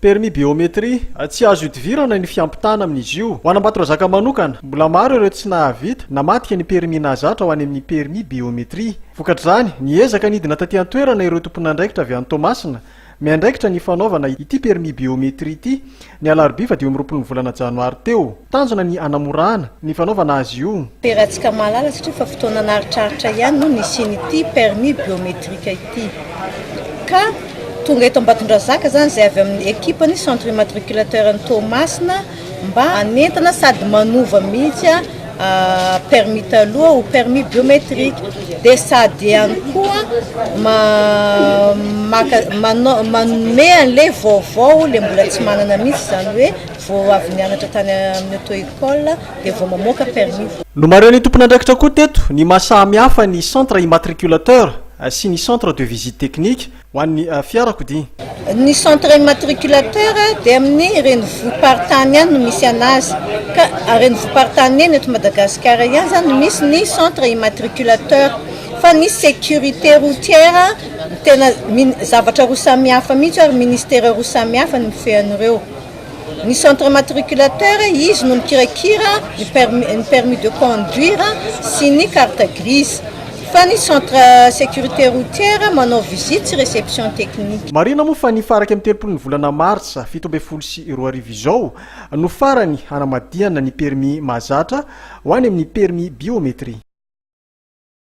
Permis biométrie, tsy azo ihodivirana ny fiampitana amin'izy io. Ho an'Ambatondrazaka manokana, mbola maro ireo tsy nahavita namadika ny permis nahazatra ho any amin'ny permis biométrie. Vokatr'izany, niezaka nidina taty an-toerana ireo tompon'andraikitra avy any Toamasina, miandraikitra ny fanaovana ity permis biométrie ity, ny alarobia fadimy amby roapolo ny volana janoary teo. Tanjona ny hanamorana ny fanaovana azy io. Peratsika mahalala satria fa fotoana an'aritraritra ihany no nisian'ity permis biometrique ity. Ka tonga eto Ambatondrazaka izany izay avy amin'ny ekipa ny Centre Immatriculateur ny Toamasina mba hanentana sady manova mihitsy permis taloha ho permis biometrique dia sady ihany koa manome an'ilay vaovao ilay mbola tsy manana mihitsy izany hoe Vao avy nianatra tany amin'ny auto-école dia vao mamoaka permis. Nomarihan'ny tompon'andraikitra koa teto ny maha samy hafa ny centre immatriculateur sy ny centre de visite technique ho an'ny fiarakodia. Ny centre immatriculateur dia amin'ny renivohi-paritany ihany no misy anazy ka renivohi-paritany eny eto Madagasikara ihany izany no misy ny centre immatriculateur fa ny sécurité routière tena zavatra roa samihafa mihitsy ary ministera roa samihafa no mifehy an'ireo. Ny centre matriculateur, izy no mikirakira ny permis, ny permis de conduire sy ny carte grise. Fa ny centre sécurité routière manao visite sy réception technique. Marihina moa fa ny faha iraika amby telopolo ny volana martsa fito ambin'ny folo sy roa arivo izao no farany hanamadihana ny permis mahazatra ho any amin'ny permis biométrie.